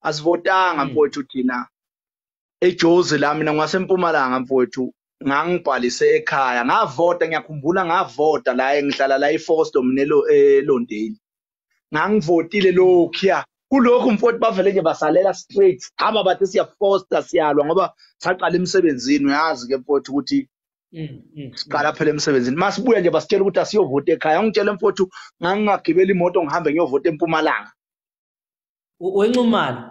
asivotanga hmm. mfowethu thina ejozi la mina ngwasempumalanga mfowethu ngangibhalise ekhaya ngavota ngiyakhumbula ngavota la engihlala la ifosto mina elondeli ngangivotile lokhuya kulokhu mfowethu bavele nje basalela straight aba bathi siyafosta siyalwa ngoba saqala emsebenzini uyazi ke mfowethu ukuthi mm, mm, mm. siqala phela emsebenzini masibuya nje basitshela ukuthi asiyovota ekhaya ungitshela mfowethu ngangingagibela imoto ngihambe ngiyovota empumalanga wenxumalo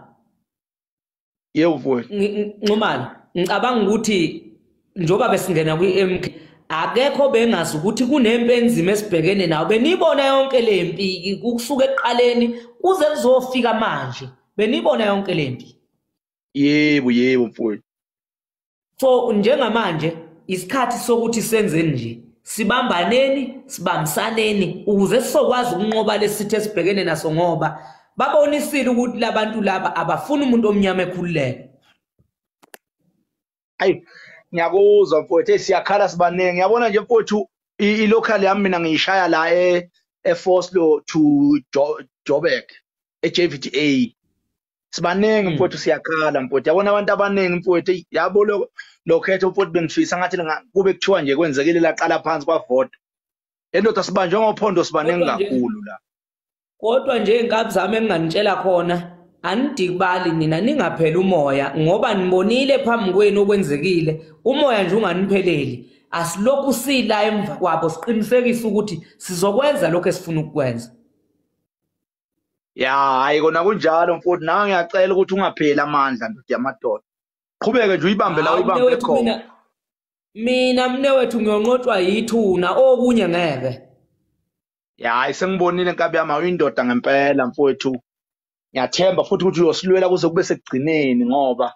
yebo mfowethu nxumalo ngicabanga ukuthi njengoba besingena kwi-mk akekho bengazi ukuthi kunempi enzima esibhekene nawo beniyibona yonke le mpi kusuka ekuqaleni kuze kuzofika manje beniyibona yonke le mpi yebo yebo mfowethu so njengamanje isikhathi sokuthi senzeni nje sibambaneni sibambisaneni ukuze sizokwazi ukunqoba lesithe sibhekene naso ngoba babonisile ukuthi labantu laba abafuni umuntu omnyama ekhululeke ayi ngiyakuzwa mfowethu siyakhala sibaningi ngiyabona nje mfowethu i-local yami mina ngiyishaya la e-foslo to joburg e-jvda sibaningi mm. mfowethu siyakhala mfowethu yabona abantu abaningi mfowethu yabo lokho lokhetho mfowethu bengifisa ngathi kube kuthiwa nje kwenzekile laqala phansi kwavota endoda sibanjwe ngophondo sibaningi kakhulu la kodwa nje inkabi zami enginganitshela khona anidikubali nina ningapheli umoya ngoba nibonile phambi kwenu okwenzekile umoya nje unganipheleli asilokhu sila emva kwabo siqinisekise ukuthi sizokwenza lokho esifuna ukukwenza ya hayi kona kunjalo mfowethu nawe ngiyacela ukuthi ungapheli amandla ndoda yamadoda qhubeke nje uyibambe la uyibambe khona mina mne wethu ngiyonqotshwa yithuna okunye ngeke hayi sengibonile nkabi yami awuyindoda ngempela mfowethu ngiyathemba futhi ukuthi uyosilwela kuze kube sekugcineni ngoba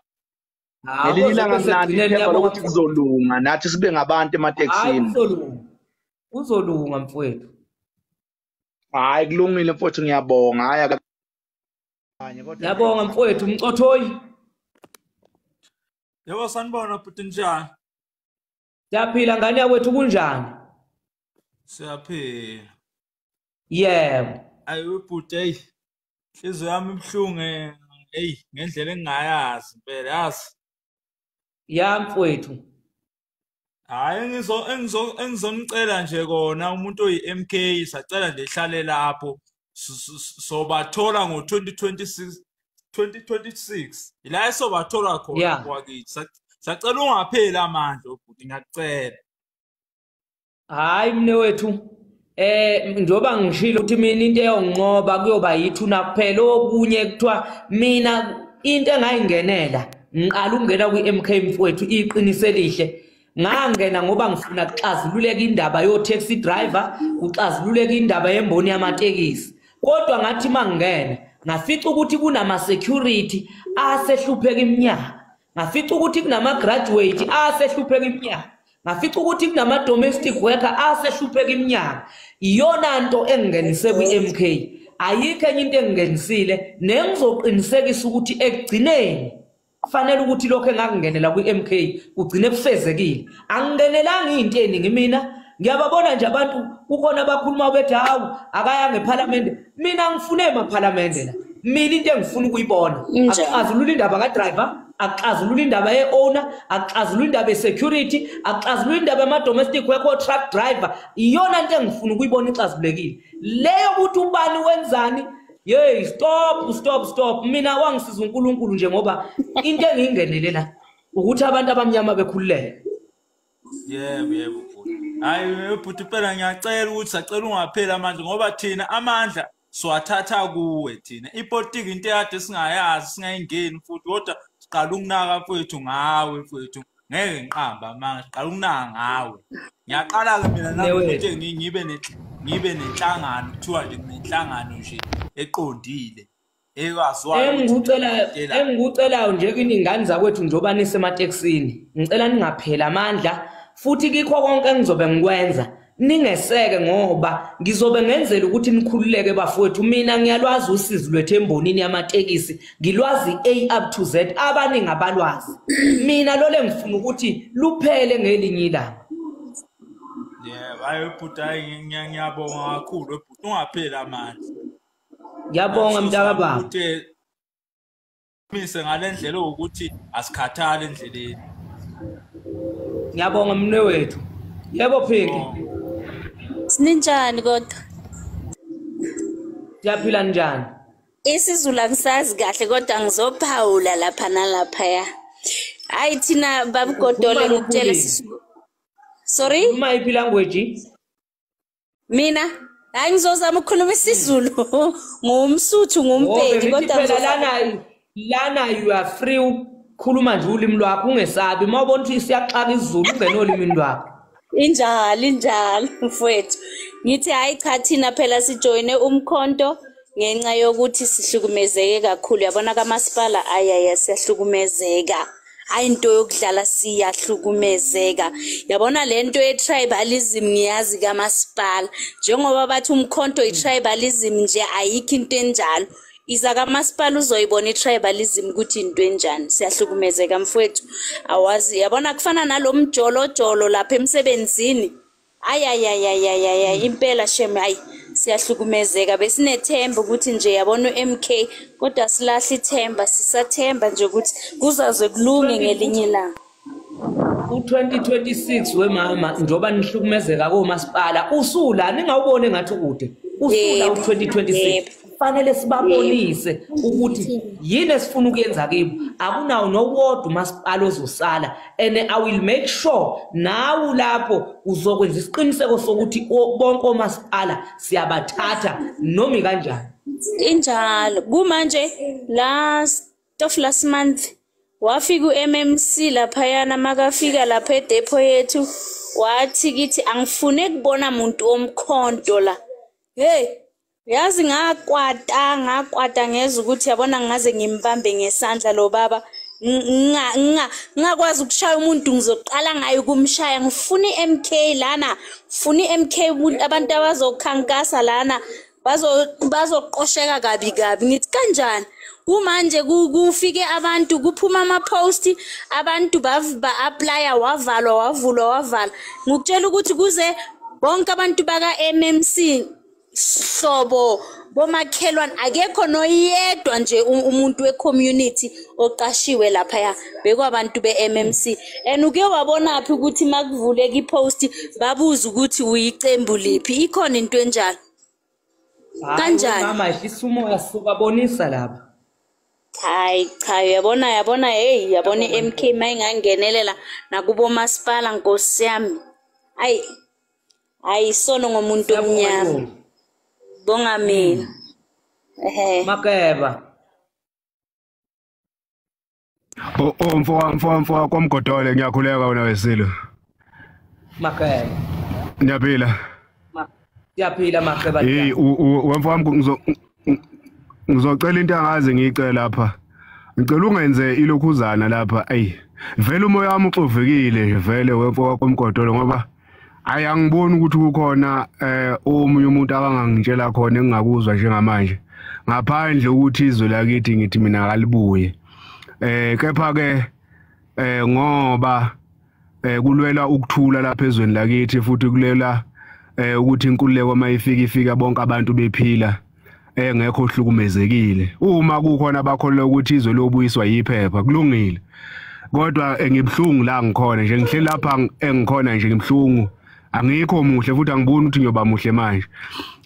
ngelinye ilanga mnandi ithemba lokuthi kuzolunga nathi sibe ngabantu ematekisini kuzolunga mfowethu hayi kulungile mfowethu ngiyabonga hayi akanye kodwa ngiyabonga mfowethu umcothoyi yebo sanibona bhuti njani siyaphila ngane yakwethu kunjani siyaphila yebo ayi webhuti eyi inhliziyo yami ibuhlungu eh, eyi ngendlela engingayazi impela yazi ya mfowethu hayi engizo engizo engizonicela nje kona umuntu oyi-MK sacela nje ihlale lapho sobathola ngo-2026 2026 ila esobathola khona yeah. kwakithi sacela ungapheli amandla obhuti ngiyakucela hayi mne wethu eh njoba ngishilo ukuthi mina into eyonqoba kuyoba yithuna kuphela okunye kuthiwa mina into engayingenela ngiqala ukungena kwi-MK mfowethu iqiniso elihle ngangena ngoba ngifuna kuxazululeka indaba yo-taxi driver kuxazululeka indaba yemboni yamatekisi kodwa ngathi uma ngingena ngafica ukuthi kunama-security asehlupheka iminyaka ngafica ukuthi kunama-graduate asehlupheka iminyaka ngafica ukuthi kunama-domestic worker asehlupheka iminyaka iyona nto engingenise kwi-m k ayikho enye into engingenisile nengizoqinisekisa ukuthi ekugcineni kufanele ukuthi lokho engakungenela kwi-m k kugcine kufezekile angingenelanga iy'nto eningi mina ngiyababona nje abantu kukhona abakhuluma bethi hawu akayanga ephalamende mina ngifune emaphalamende la mina into engifuna ukuyibona akuxazulula indaba kadriver akuxazulula indaba ye-owner akuxazulula indaba ye-security akuxazulula indaba yama-domestic worker truck driver iyona nto engifuna ukuyibona ixazulekile leyo ukuthi ubani wenzani yeyi stop stop stop mina wangisiza unkulunkulu nje ngoba into engiyingenele la ukuthi abantu abamnyama bekhululeke yebo yebo hayi bhuti phela ngiyacela ukuthi sacela ungapheli amandla ngoba thina amandla siwathatha kuwe thina ipolitiki into eyade singayazi singayingeni futhi kodwa siqala ukunaka mfowethu ngawe mfowethu ngeke ngiqamba manga siqala ukunaka ngawe ngiyaqala-ke mina nakuthi ngibe ngibe nenhlangano kuthiwa nje nginenhlangano nje eqondile engikucelayo nje kini ngane zakwethu njengoba nisematekisini ngicela ningapheli amandla futhi kikho konke engizobe ngikwenza ningeseke ngoba ngizobe ngenzela ukuthi nikhululeke bafowethu mina ngiyalwazi usizi lwethu embonini yamatekisi ngilwazi A up to Z abaningi abalwazi mina lole ngifuna ukuthi luphele ngelinye ilanga yebo hayi bhuti hayi ngiyabonga kakhulu bhuti ungapheli amandla ngiyabonga mntaka baba mise ngalendlela ukuthi asikhathali endleleni ngiyabonga mne wethu yebo phiki oh. sininjani kodwa siyaphila njani isizulu angisazi kahle kodwa ngizophawula lapha nalapha ya hayi thina babugodole ngikutshele sorry uma iphi language mina hayi ngizozama ukukhuluma isizulu ngumsuthu ngumpedi oh, kodwa phela lana lana you are free ukukhuluma nje ulimi lwakho ungesabi uma ubona ukuthi siyaxaka isizulu ungena olimini lwakho injalo injalo mfowethu ngithi hayi cha thina phela sijoyine umkhonto ngenxa yokuthi sihlukumezeke kakhulu yabona kamasipala ayaya siyahlukumezeka hayi into yokudlala siyahlukumezeka yabona le nto ye-tribalism ngiyazi kamasipala njengoba bathi umkhonto i-tribalism nje ayikho into enjalo iza kamasipala uzoyibona i-tribalism ukuthi into enjani siyahlukumezeka mfowethu awazi yabona kufana nalo mjolojolo lapha emsebenzini ayayayayayaya impela shem hayi siyahlukumezeka besinethemba ukuthi nje yabona u-mk kodwa silahle ithemba sisathemba nje ukuthi kuzaze kulunge ngelinye ilanga u-2026 wemama njengoba nihlukumezeka komasipala usula ningawuboni engathi ukude usula u-2026 kufanele sibabonise ukuthi yini esifuna ukuyenza kibo akunawo nowodwa umasipala ozosala and i will make sure nawu lapho uzokwenza isiqiniseko sokuthi bonke omasipala siyabathatha noma kanjani injalo kumanje last of last month wafika uMMC lapha yana makafika lapha edepo yethu wathi kithi angifune kubona muntu omkhonto la hey yazi ngakwata ngakwata ngeza ukuthi yabona ngaze ngimbambe ngesandla lo baba ngingakwazi ukushaya umuntu ngizoqala ngayo ukumshaya ngifuna i-mk lana ngifuna i-mk abantu abazokhankasa lana bazoqosheka kabi kabi ngithi kanjani kumanje kufike abantu kuphuma ama-post abantu ba-aplya wavalwa wavulwa wavalwa ngikutshela ukuthi kuze bonke abantu baka-mmc hlobo bomakhelwane akekho noyedwa nje umuntu we-community oqashiwe laphaya bekwabantu be-mmc and uke wabonaphi ukuthi uma kuvuleka i-post babuze ukuthi uyiqembu liphi ikhona into enjalo kanjani mama isumoya sokabonisa lapha hayi cha yabona yabona hey yabona i-mk mayingangenelela nakubomasipala nkosi yami ayi hayi isono ngomuntu omnyama bonga mina hmm. ehe makeba o oh, o oh, mfo mfo mfo kwamgodole ngiyakhuleka wena wesilo makeba ngiyaphila ngiyaphila makeba hey wemfo wami ngizocela into angazi ngiyicela lapha ngicela ungenze ilokhuzana lapha ayi vele umoya wami uxovekile nje vele wemfokakomgodolo ngoba ayi angiboni ukuthi kukhona eh omunye umuntu abangangitshela khona engingakuzwa njengamanje ngaphandle ukuthi izwe lakithi ngithi mina akalibuye eh kepha ke eh ngoba eh kulwela ukuthula lapha ezweni lakithi futhi kulela eh ukuthi inkululeko mayifika ifika bonke abantu bephila engekho eh, ohlukumezekile uma kukhona abakholwa ukuthi izwe lobuyiswa yiphepha kulungile kodwa engibuhlungu la ngikhona nje ngihleli lapha engikhona nje ngibuhlungu angikho muhle futhi angiboni ukuthi ngiyoba muhle manje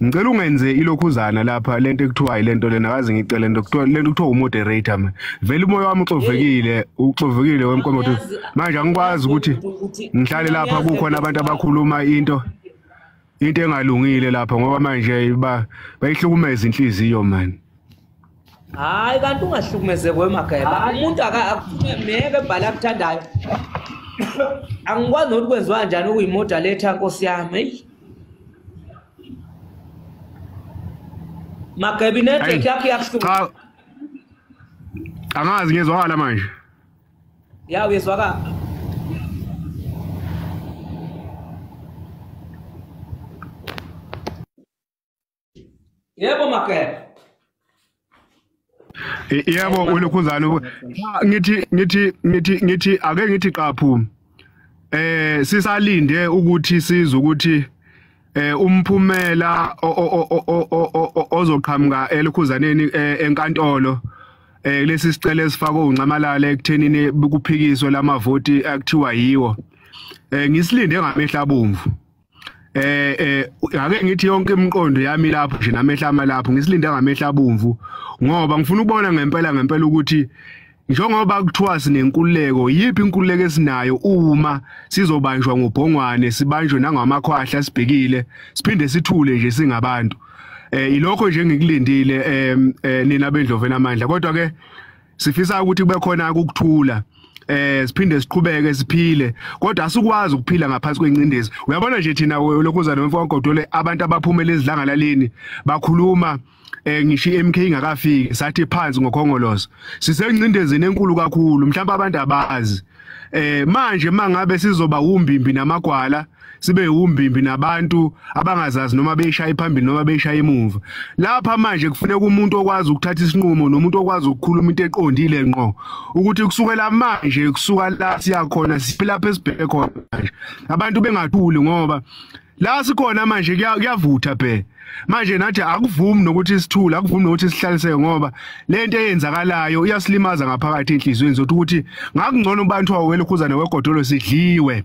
ngicela ungenze ilokhuzana lapha lento ekuthiwa ilento lena kaze ngicela lento kuthiwa lento kuthiwa umoderator mina vele umoya wami uxovekile uxovekile wemkomoto manje angikwazi ukuthi ngihlale lapha kukhona abantu abakhuluma into into engalungile lapha ngoba manje ba bayihlukumeza inhliziyo manje hayi kanti ungahlukumezeki wemageba umuntu meke ebhale akuthandayo angikwazi nokuthi kwenziwa njani ukuyimodaletha nkosi yami eyi mageba inetwork yakho iyakuhlukumeza angazi ngiyezwakala manje ya uyezwakala yebo mageba yebo ulokhuzana ngithi ngithi ngithi ngithi ake ngithi qaphu eh sisalinde ukuthi sizwe ukuthi eh umphumela ozoqhamuka elikhuzaneni eh, enkantolo eh lesi sicelo esifakwe uNcamalala ekuthenini kuphikiswe lamavoti akuthiwa yiwo eh ngisilinde ngamehla bomvu eh eh ake ngithi yonke imiqondo yami lapho nje namehla ama lapho ngisilinde ngamehla abomvu ngoba ngifuna ukubona ngempela ngempela ukuthi njengoba kuthiwa sinenkululeko yiphi inkululeko esinayo uma sizobanjwa ngobhongwane sibanjwe nangamakhwahla sibhekile siphinde sithule nje singabantu eh ilokho nje ngikulindile eh nina bendlovela amandla kodwa ke sifisa ukuthi kube khona ukuthula eh siphinde siqhubeke siphile kodwa asikwazi ukuphila ngaphansi kwencindezi uyabona nje thina lokhuzana wemfo kagodole abantu abaphumela ezidlangalaleni bakhuluma eh ngisho iMK ingakafiki sathi phansi ngokhongolozo sisencindezini enkulu kakhulu mhlawumbe abantu abazi eh manje mangabe sizoba umbimbi namagwala sibe umbimbi nabantu abangazazi noma beyishaya phambili noma beyishaya emuva lapha manje kufuneka umuntu okwazi ukuthatha isinqumo nomuntu okwazi ukukhuluma into eqondile ngqo ukuthi kusukela manje kusuka la siya khona siphila phe sibheke khona manje abantu bengathuli ngoba la sikhona manje kuyavutha bhe manje nathi akuvumi nokuthi sithule akuvumi nokuthi sihlaliseke ngoba lento eyenzakalayo iyasilimaza ngaphakathi enhlizweni zothi ukuthi ngakungcono ubantu awelokhuza newegodolo sidliwe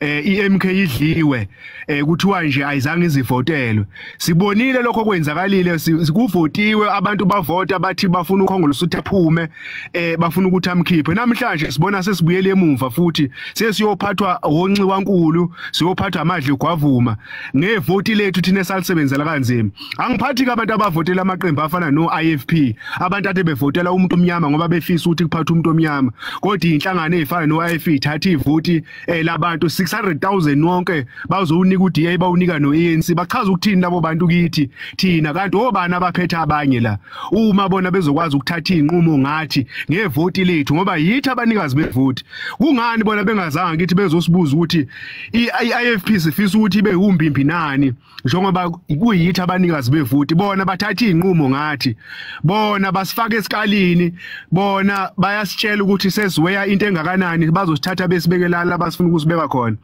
eh iMK idliwe eh kuthiwa nje ayizange izivotelwe sibonile lokho kwenzakalile sikuvotiwe abantu bavota bathi bafuna ukhongolose ukuthi aphume eh bafuna ukuthi amkhiphe namhlanje sibona sesibuyele emuva futhi sesiyophathwa wonxiwa nkulu siyophathwa amadle gwavuma ngevoti lethu thina salisebenzela kanzima Angiphathi abantu abavotela amaqembu afana no IFP abantu ade bevotela umuntu omnyama ngoba befisa ukuthi kuphathe umuntu omnyama kodwa inhlangano ezifana no IFP ithatha ivoti eh labantu 600,000 wonke bazowunika uDA bawunika no ANC bachaza ukuthini labo bantu kithi thina kanti obani abaphethe abanye la uma bona bezokwazi ukuthatha inqumo ngathi ngevoti lethu ngoba yithi abanikazi bevoti kungani bona bengazanga kithi bezosibuza ukuthi iIFP sifisa ukuthi ibe umbimbi nani njengoba kuyithi abanikazi bevoti bona bathatha izinqumo ngathi bona basifaka esikalini bona bayasitshela ukuthi sesiweya into engakanani bazosithatha besibekelala abasifuna ukusibeka khona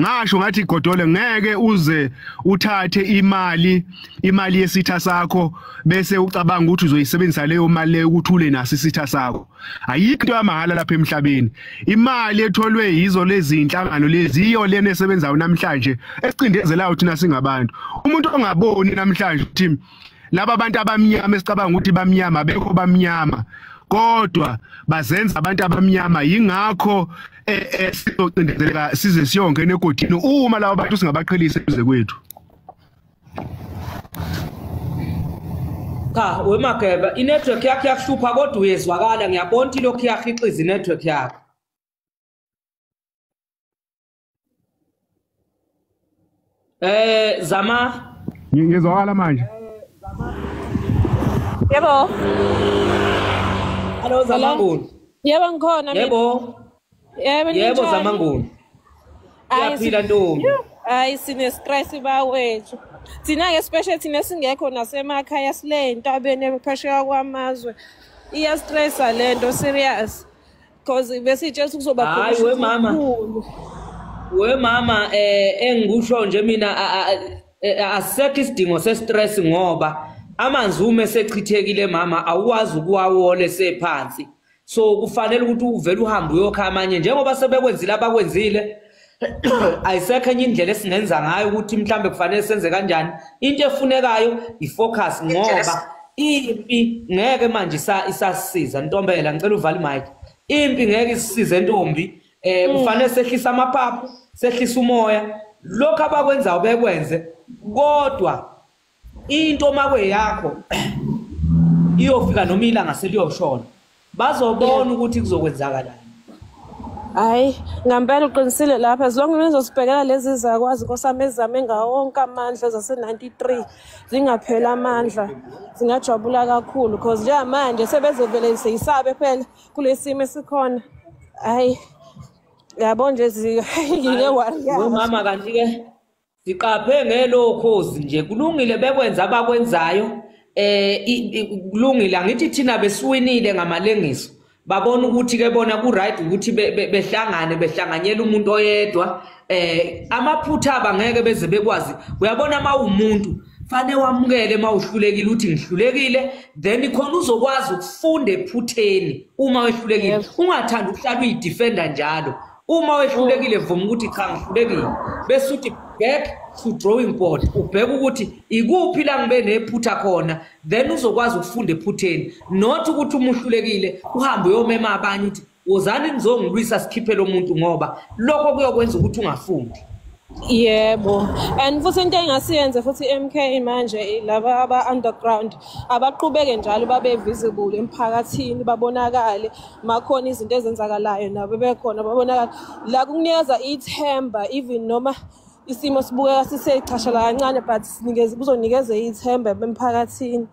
ngasho ngathi godole ngeke uze uthathe imali imali yesitha sakho bese ucabanga ukuthi uzoyisebenzisa leyo mali leyo ukuthule nasi isitha sakho ayikho into yamahhala lapha emhlabeni imali etholwe yizo lezi inhlangano lezi iyo lena esebenzayo namhlanje esicindezelayo thina singabantu umuntu ongaboni namhlanje ukuthi laba abantu abamnyama esicabanga ukuthi bamnyama bekho bamnyama kodwa bazenza abantu abamnyama yingakho eh, eh, sizocindezeleka size siyongena egodini uma laba bantu singabaqhelisa kuze kwethu cha wemageba inetwork yakhe yakuhlupha kodwa uyezwakala ngiyabona ukuthi lokhu iyahixiza inetwork yakhe eh zama ngizwakala manje yebo hello zama ngulu yebo ngikhona yebo Yebo Yebo zamanguni. Uyaphila ntombi. Hayi sine stress bawethu. Thina ke special thina singekho nasemakhaya sile entabeni ephesheya kwamazwe. Iya stress lento serious. Cause besitshela ukuthi kuzoba khona. Hayi we mama. We mama eh engikusho nje mina asekho isidingo se stress ngoba amanzi uma esechithekile mama awuwazi ukuwawole sephansi. so kufanele ukuthi uvele uhambe uyokha amanye njengoba sebekwenzile abakwenzile ayisekho enye indlela esingenza ngayo ukuthi mhlambe kufanele senze kanjani into efunekayo ifocus ngoba impi ngeke manje isasisiza ntombela ngicela uvale imic impi ngeke isisize ntombi eh mm. kufanele sehlisa amaphaphu sehlisa umoya lokho abakwenzayo bekwenze kodwa into makwe yakho iyofika noma ilanga seliyoshona bazobona ukuthi kuzokwenzakalani hayi ngampela uqinisile lapha as long nizosibhekela lezi zakwazi nkosami ezizame ngawo wonke amandla zase-93 zingapheli amandla zingajabula kakhulu because njengamanje sebezevele seyisabe phela kule simo esikhona hayi yabo nje ngike wariyamama kanti-ke Siqaphe ngelo cause nje kulungile bekwenza abakwenzayo eh kulungile angithi thina besiwinile ngamalengiso babona ukuthi ke bona ku right ukuthi behlangane behlanganyela umuntu oyedwa eh amaphutha abangeke beze bekwazi uyabona uma umuntu fanele wamukele uma uhlulekile uthi ngihlulekile then khona uzokwazi ukufunda ephutheni uma wehlulekile ungathanda ukuhlala uyidefender njalo uma wehlulekile vuma ukuthi cha ngihlulekile bese uthi back to drawing board ubheka ukuthi ikuphi la ngibe nephutha khona then uzokwazi ukufunda ephutheni not ukuthi uma uhlulekile uhambe uyomema abanye ukuthi wozani nizongilwisa sikhiphe lo muntu ngoba lokho kuyokwenza ukuthi ungafundi Yebo. And futhi into engasiyenze futhi MK manje laba aba underground abaqhubeke njalo babe visible emphakathini babonakale makhona izinto ezenzakalayo nabo bekhona babonakala la kunikeza ithemba even noma isimo sibukeka sisechashala kancane but sinikeze kuzonikeza ithemba emphakathini.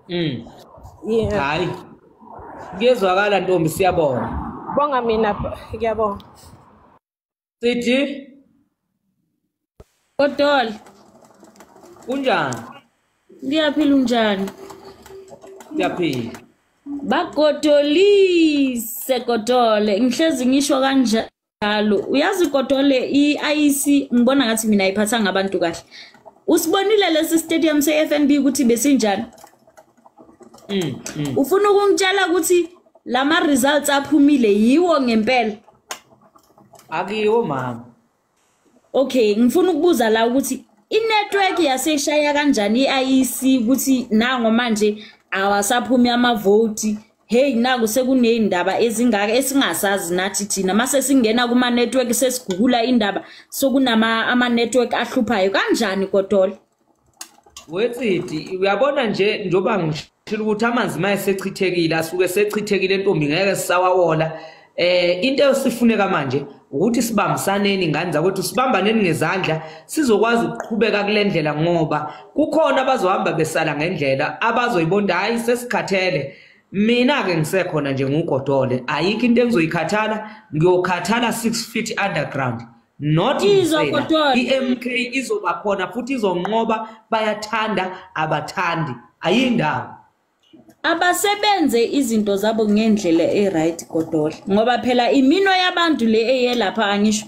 Mm. Yeah. Hayi. Kuyezwakala ntombi siyabonga. Bonga mina ngiyabonga. Sithi Kodol. Kunjani? Ngiyaphila unjani? Ngiyaphila. Bagodolise Kodole. Ngihlezi ngisho kanje njalo uyazi kodole i-IEC ngibona ngathi mina ayiphathanga abantu kahle usibonile lesi stadium se-FNB ukuthi besinjani Mm, mm. ufuna ukungitshela ukuthi lama results aphumile yiwo ngempela akiwo mama okay ngifuna ukubuza la ukuthi inetwork yaseshaya kanjani iIEC ukuthi nango manje awasaphumi amavoti hey naku sekunezindaba ezingaka esingasazi nathi thina mase singena kuma network sesigugula indaba sokunama ama network ahluphayo kanjani kodwa wetsidi uyabona nje njengoba ngishilo ukuthi amanzi uma esechithekile asuke esechithekile entombi ngeke sisawawola eh into esifuneka manje ukuthi sibambisaneni ingane zakwethu sibambaneni ngezandla sizokwazi ukuqhubeka kule ndlela ngoba kukhona abazohamba besala ngendlela abazoyibonda hayi sesikhathele mina-ke ngisekhona nje ngugodole ayikho into engizoyikhathala ngiyokhathala six feet underground not insela i-mk izoba khona futhi izonqoba bayathanda abathandi ayindawo abasebenze izinto zabo ngendlela e-right godola ngoba phela imino yabantu le eyelapha angisho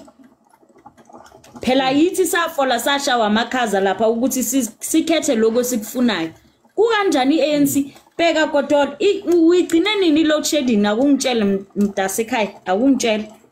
phela yithi safola sashawa amakhaza lapha ukuthi sikhethe lokho sikufunayo kukanjani i-anc bheka godola uyigcine nini i-load shedding akungitshele mntasekhaya akungitshele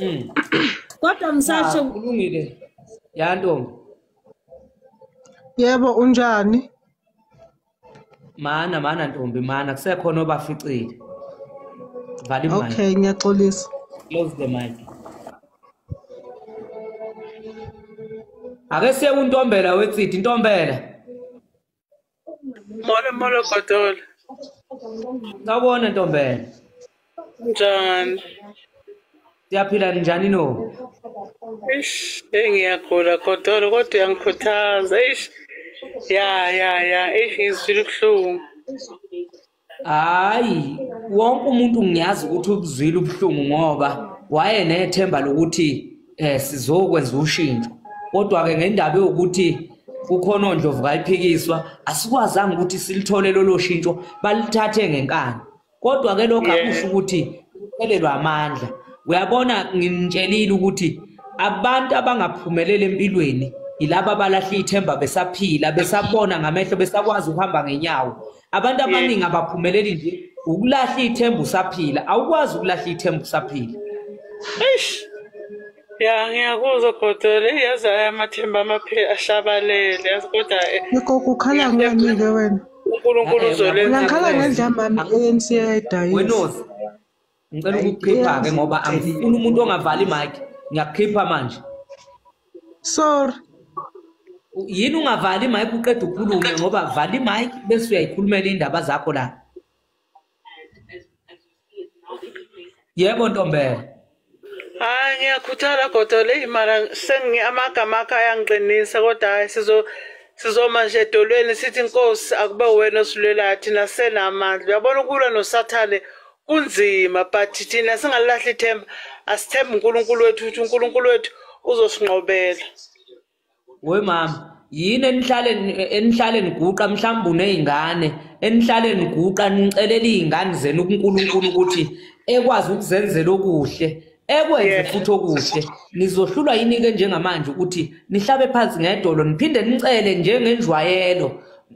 mm. kodwa msasho kulungile ya ntombi yebo unjani mana mana ntombi mana kusekhona obaficile vale okay ngiyaxolisa close the mic ake siye kuntombela wetsidi intombela Molo molo Godol. Ngabona ntombela. Njani? Siyaphila njani no? Ish, engiyagula Godol kodwa uyangikhuthaza. Ish. Ya ya ya, ish ngizwile ubuhlungu. hayi wonke umuntu ngiyazi ukuthi ukuzwile ubuhlungu ngoba waye nethemba lokuthi um sizokwenza ushintsho kodwa-ke ngendaba yokuthi kukhona ondlovu kayiphikiswa asikwazanga ukuthi silithole lolo shintsho balithathe ngenkani kodwa-ke lokho akusho ukuthi kuphelelwa amandla uyabona nginitshelile ukuthi abantu abangaphumeleli empilweni yilaba abalahle ithemba besaphila besabona ngamehlo besakwazi ukuhamba ngenyawo abantu abaningi abaphumeleli nje ukulahla ithemba usaphila awukwazi ukulahla ithemba usaphila eish ya ngiyakuzwa godole yazi aya amathemba amaphela ashabalele yazi kodwa eh, yikho kukhala ngani-ke wena unkulunkulu uzolenza ngakhala ngendla mami i-anc yayidayisa ngicela ukukhipha ke ngoba angifuni umuntu ongavali mic ngiyakhipha manje sorry yini ungavali mic uqeda ukhulume ngoba vali mic bese uyayikhulumela indaba zakho la yebo ntombela hayi ngiyakhuthala godo le imara sengi amagama akhe ayangiqinisa kodwa hayi sizo sizoma nje edolweni sithi inkosi akube wena osilwelayo thina senamandla uyabona ukulwa nosathane kunzima but thina singalilahli ithemba asithembe unkulunkulu wethu ukuthi unkulunkulu wethu uzosinqobela we mama yini enihlale enihlale niguqa mhlawumbe unezingane enihlale niguqa nicelela izingane zenu kuNkulunkulu ukuthi ekwazi ukuzenzela okuhle ekwenze Yes. futhi okuhle nizohlulwa yini-ke njengamanje ukuthi nihlabe phansi ngedolo niphinde nicele njengenjwayelo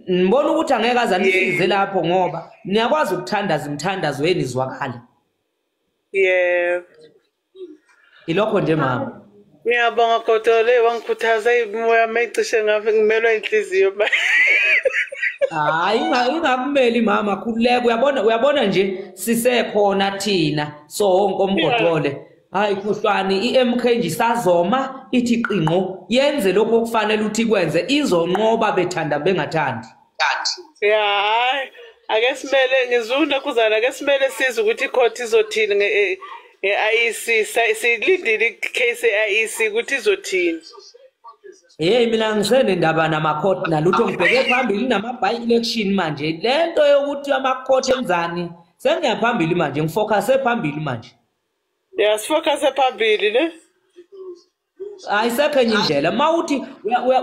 nibona ukuthi angeke aze anisize lapho ngoba niyakwazi ukuthandaza imithandazo yenu izwakale yebo ilokho nje mama Ngiyabonga kodwa le wangikhuthaza imoya yami ecishe ngafe ngimelwa inhliziyo ba. Hayi ingakumeli mama khululeka uyabona uyabona nje sisekhona thina so wonke omgodole. Hayi kuhlwani iMK nje isazoma ithi qinqo yenze lokho okufanele uthi kwenze izonqoba bethanda bengathandi. kanti ya hayi ake simele ngizuna kuzana ake simele size ukuthi icourt izothini nge-IEC eh, eh, e silindile icase ye-IEC ukuthi izothini Hey mina ngisene ndaba namacourt nalutho ngibheke phambili nama by election manje lento yokuthi amacourt enzani sengiyaphambili manje ngifocuse phambili manje Yeah sifocuse phambili ne ayisekho enye indlela uma uthi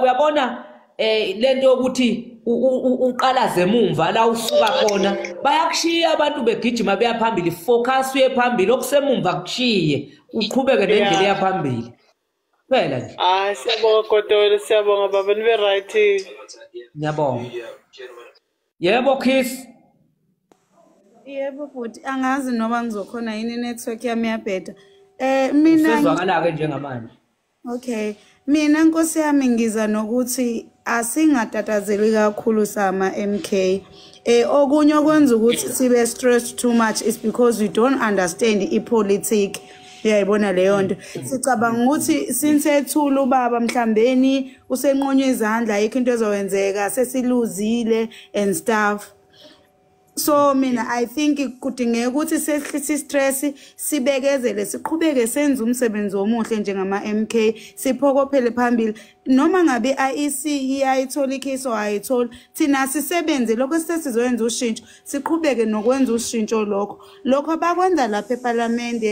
uyabona um lento yokuthi uqalaze emumva la usuka khona bayakushiya abantu begijima beya phambili focus uye phambili okusemumva kushiye uqhubeke nendlela eya phambili kuphela nje hayi siyabonga kodwa siyabonga baba nibe right ngiyabonga yebo kiss yebo bhuti angazi noba ngizokhona yini network yami yabheda eh mina sizwakala ke njengamanje okay mina nkosi yami ngiza nokuthi asingatatazeli kakhulu sama MK eh okunye okwenza ukuthi sibe stressed too much is because we don't understand i politics uyayibona leyo nto sicabanga ukuthi sinsethula ubaba mhlambeni usenqonywe izandla ayikho into ezowenzeka sesiluzile and stuff so mina i think kudingeka ukuthi sehlise istress sibekezele siqhubeke senze umsebenzi omuhle njengama MK siphokophele phambili noma ngabe IEC iyayithola ikhiso ayithola thina sisebenze lokho sesizoyenza ushintsho siqhubeke nokwenza ushintsho lokho lokho bakwenza lapha eParliament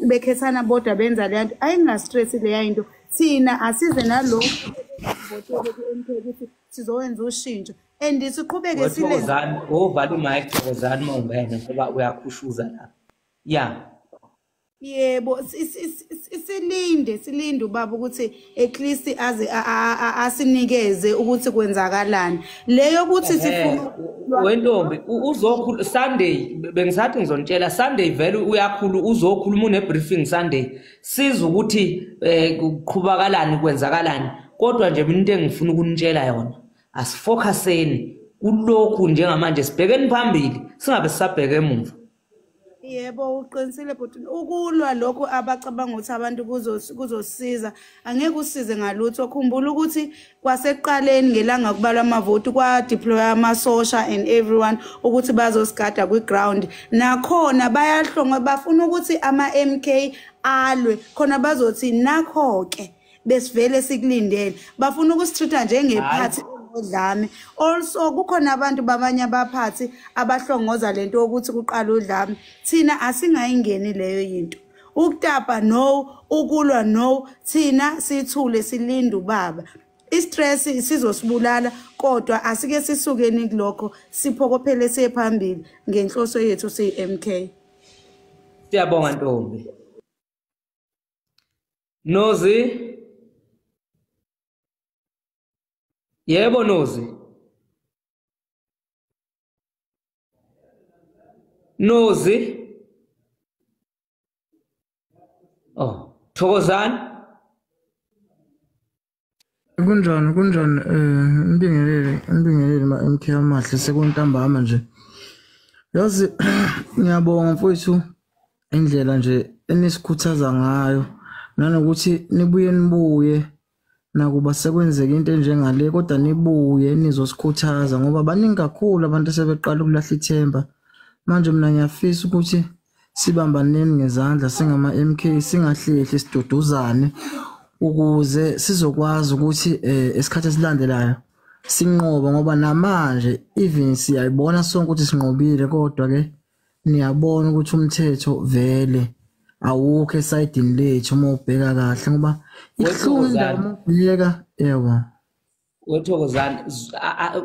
bekhethana bodwa benza leya nto ayingastress leya into thina asize nalokho votele ku-mk ukuthi sizowenza ushintsho and siqhubeke silezani ovala umike thokozani uma ungena ngoba uyakhushuza la ya yebo silinde silinde ubaba ukuthi at least aze asinikeze ukuthi kwenzakalani leyo ukuthi sifuna wentombi uzokhulu Sunday bengisathi ngizonitshela Sunday vele uyakhulu uzokhuluma une briefing Sunday siza ukuthi eh, kuqhubakalani kwenzakalani kodwa nje mina into engifuna ukunitshela yona asifocuseni kulokhu njengamanje sibhekeni phambili singabe sisabheke emuva Yebo uqinisile bhuti ukulwa lokho abacabanga ukuthi abantu kuzosiza angeke usize ngalutho khumbula ukuthi kwasekuqaleni ngelanga kubalwa amavoti kwadeploya amasosha and everyone ukuthi bazosigada kwi-ground nakhona bayahlonga bafuna ukuthi ama-m k alwe khona bazothi nakho-ke besivele sikulindele bafuna ukusitreat-a njengephathi udlame also kukhona abantu babanye abaphathi abahlongoza lento yokuthi kuqala udlame thina asingayingeni leyo yinto ukutapa no ukulwa no thina sithule silinde ubaba istress sizosibulala kodwa asike sisukeni kulokho siphokophele siye phambili ngenhloso yethu siyi-MK siyabonga ntombi Nozi Yebo Nozi Nozi Oh Thokozani Kunjani kunjani eh ngibingelele ngibingelele ma MK amahle sekuntambama nje. Yazi ngiyabonga mfowethu indlela nje enisikhuthaza ngayo nanokuthi nibuye nibuye nakuba sekwenzeka into enjengale kodwa nibuye nizosikhuthaza ngoba baningi kakhulu abantu asebeqala ukulahla ithemba. Manje mina ngiyafisa ukuthi Sibambaneni ngezandla singama-MK singahlehli siduduzane ukuze sizokwazi ukuthi eh, esikhathi esilandelayo sinqoba ngoba namanje even siyayibona sonke ukuthi sinqobile kodwa-ke niyabona ukuthi umthetho vele awukho esayidini lethu uma ubheka kahle ngoba ihlungu indawo uma ubheka yebo wethokozani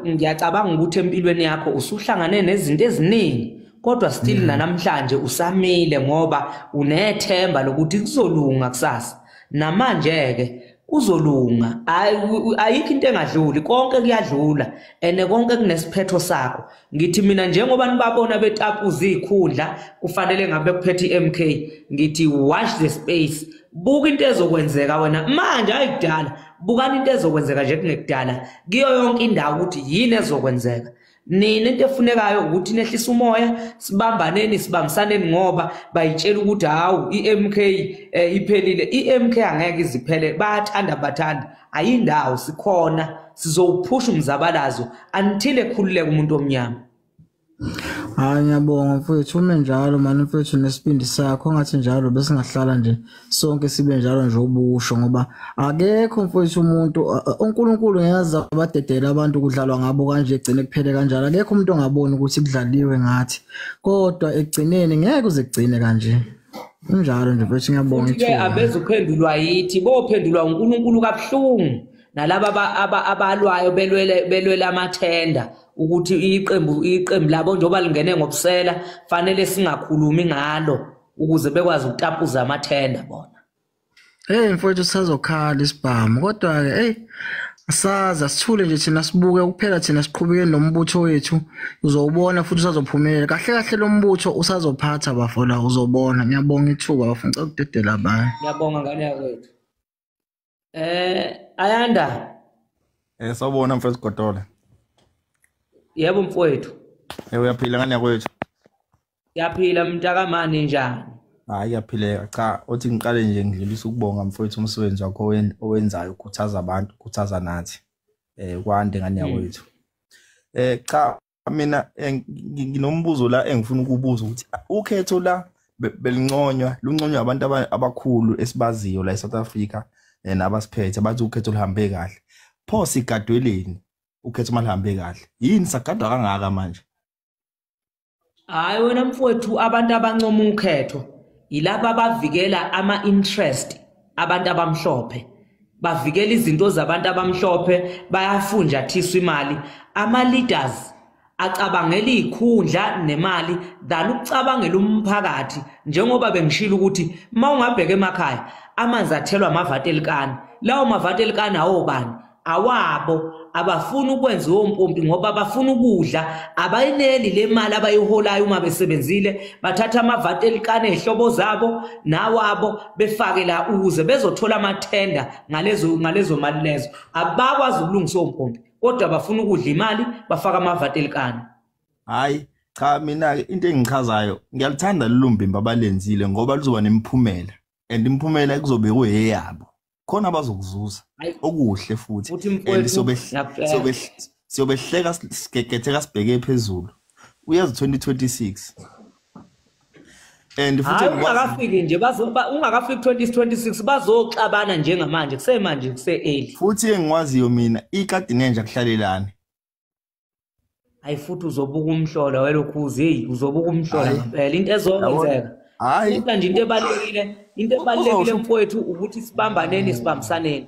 ngiyacabanga ukuthi empilweni yakho usuhlangane nezinto eziningi kodwa still mm. nanamhlanje usamile ngoba unethemba lokuthi kuzolunga kusasa namanje-ke kuzolunga ayikho into engadluli konke kuyadlula and konke kunesiphetho sakho Ngithi mina njengoba nibabona betapuza izikhundla kufanele ngabe kuphethe iMK ngithi watch the space buka into ezokwenzeka wena manje ayikudala bukani into ezokwenzeka nje kungekudala kiyo yonke indawo ukuthi yini ezokwenzeka nina into efunekayo ukuthi nehlisa umoya sibambaneni sibambisaneni ngoba bayitshela ukuthi hawu i-MK eh, iphelile i-MK angeke iziphele bayathanda bathanda ayindawo sikhona sizowuphusha umzabalazo until ekhululeke umuntu omnyama hayi ngiyabonga mfethu ume njalo mani mfethu nesibindi sakho ngathi njalo besingahlala nje sonke sibe njalo nje ubusho ngoba akekho mfethu umuntu uNkulunkulu ngiyazi abadedela abantu kudlalwa ngabo kanje egcine kuphele kanjalo akekho umuntu ongaboni ukuthi kudlaliwe ngathi kodwa ekugcineni ngeke uzigcine kanje kunjalo nje mfethu ngiyabonga futhi-ke ithuba abeze uphendulwa yithi bophendulwa unkulunkulu kabuhlungu nalaba aba- aba- abalwayo belwele belwele amathenda ukuthi iqembu iqembu labo njengoba lingene ngobusela fanele singakhulumi ngalo ukuze bekwazi ukutapuza amathenda bona Hey mfowethu sisazokhala isibhamu kodwa ke hey asazi asithule nje thina sibuke kuphela thina siqhubeke nombutho wethu uzowubona futhi usazophumelela kahle kahle lo mbutho usazophatha bafola uzobona ngiyabonga ithuba bafuna cela ukudedela abanye ngiyabonga ngane yakwethu eh ayanda eh sawubona mfowethu Godole yebo mfowethu eh uyaphila ngane yakwethu Yaphila mntakamane njani? Hayi yaphileka cha uthi ngiqale nje ngidlulisa ukubonga mfowethu umsebenzi wakho owenzayo ukhuthaza abantu ukhuthaza nathi eh kwande ngane hmm. yakwethu. Eh cha mina eh, nginombuzo la engifuna ukubuza ukuthi ukhetho la belinconywa lunconywa abantu abakhulu esibaziyo la eSouth Africa eh, nabasiphethe bathi ukhetho luhambe kahle pho sigadweleni ukhetho malihambe kahle yini sagadwa kangaka manje hayi wena mfowethu abantu abancoma ukhetho yilaba abavikela ama-interest abantu abamhlophe bavikela izinto zabantu abamhlophe bayafunjathiswa imali ama-leaders acabangela iy'khundla nemali than ukucabangela umphakathi njengoba bengishilo ukuthi uma ungabheka emakhaya amanzi athelwa amavati elikani lawo mavati elikani awobani awabo abafuni ukwenza ompompi ngoba bafuna ukudla abayineli le mali abayiholayo uma besebenzile bathatha amavati elikane ehlobo zabo nawabo befake la ukuze bezothola amathenda ngalezo ngalezo mali lezo abakwazi ukulungisa ompompi kodwa bafuna ukudla imali bafaka amavati elikane hayi cha mina ke into engichazayo ngiyaluthanda lolumbimba abalenzile ngoba luzoba nemiphumela and imiphumela kuzobe kuyeyabo khona bazokuzuza okuhle futhi and siyobehleka sigegetheka sibheke phezulu uyazi 2026 and futhi ungakafiki nje bazoba ungakafiki 2026 bazoxabana njengamanje kusemanje kuse early futhi engiwaziyo mina ikadinenja kuhlalelana hayi futhi uzobuka umhlola welokhuzi heyi uzobuka umhlola ngempela into ezokwenzeka hayi futhi nje into ebalekile into ebalekile mfowethu ukuthi sibambaneni sibambisaneni